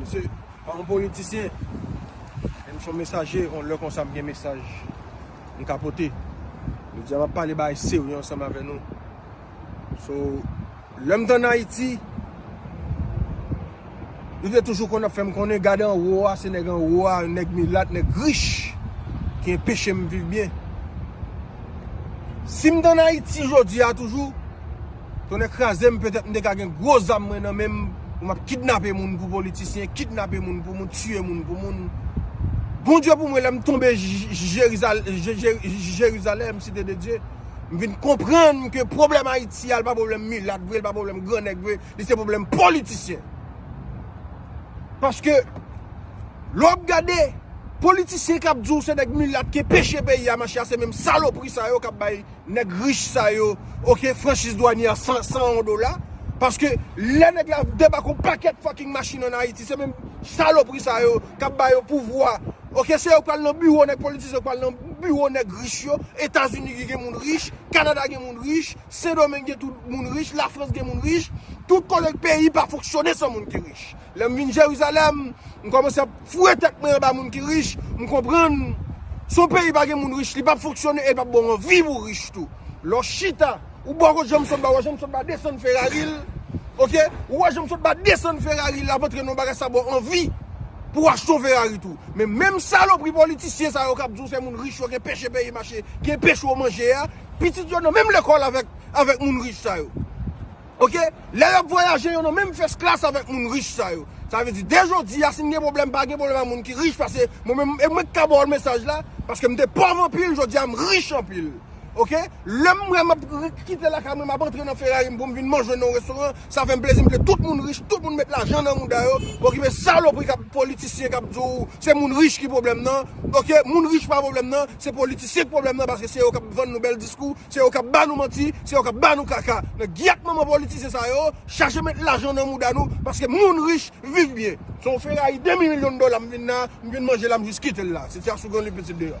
Misye pa yon politisyen, men misye yon mesaje, yon lè konsa m gen mesaj m ka pote. Jodi a m ap pale bagay serye ansanm avè nou. So lèm t an Ayiti, yo te toujou konn ap fèm konnen gad anwo a, se nèg anwo a, nèg milat, nèg rich ki enpechem viv byen. Sim t an Ayiti jodi a toujou, tonnè krazem petèt m te ka gen gwo zam mwen nan menm pou map kidnape moun pou politisyen, kidnape moun pou moun, tiye moun pou moun. Bondye pou mwen lèm tonbe Jerizalèm, site de Dye. M vin konprann ke pwoblèm Ayiti a, li pa pwoblèm milat vre, li pa pwoblèm gran nèg vre, li se pwoblèm politisyen. Paske, lè w ap gade, politisyen k ap di w se nèg milat ki peche peyi a mache a, se menm salopri sa yo k ap bay nèg rich sa yo, ok, franchiz dwanyè a 101 dola. Paske, lè nèg la debake yon pakèt fucking machin an Ayiti, se menm salopri sa yo k ap ba yo pouvwa Ok se yo ki pral nan biwo nèg politizan yo pral nan biwo nèg rich yo etazini ki gen moun rich kanada gen moun rich sendomeng gen tout moun rich lafrans gen moun rich tout kote peyi pa fonksyone san moun ki rich lèm vin jerizalèm m kòmanse ap foure tèt mwen anba moun ki rich m konprann si yon peyi pa gen moun rich li pap fonksyone e li pap baw anvi pou rich tou lè w chita. Ou bò kot janm sotba wè janm sotba desann ferari l ok ou wè janm sotba desann ferari l ap antre nan yon bagay sa baw anvi pou w achte yon ferari tou men menm salopri politisyen sa yo kap di w se moun rich yo gen peche peyi mache gen peche yo manje a pitit yo nan menm lekòl avèk avèk moun rich sa yo ok lè yo ap vwayaje yo nan menm fès klas avèk moun rich sa yo sa vle di de jodi a si m gen pwoblèm pa gen pwoblèm a moun ki rich pase mwen menm e mwen ki ka ba w mesaj la paske m te pòv anpil jodi a m rich anpil. Ok lèm wè map kite lakay mwen map antre nan ferrari m poum vin manje nan yon restoran sa fèm plezi m vle tout moun rich tout moun met lajan nan mouda yo okipe salopri kap politisyen kap di w se moun rich ki pwoblèm nan ok moun rich pa pwoblèm nan se politisyen ki pwoblèm nan paske se yo kap vann nou bèl diskou se yo kap ba nou manti se yo kap ba nou kaka nan gyèt manman politisyen sa yo chache met lajan nan mouda nou paske moun rich viv byen se yon ferrari 2000 milyon dola m vin la m vin manje la m jis kite l la se ti asougan li pitit deyò.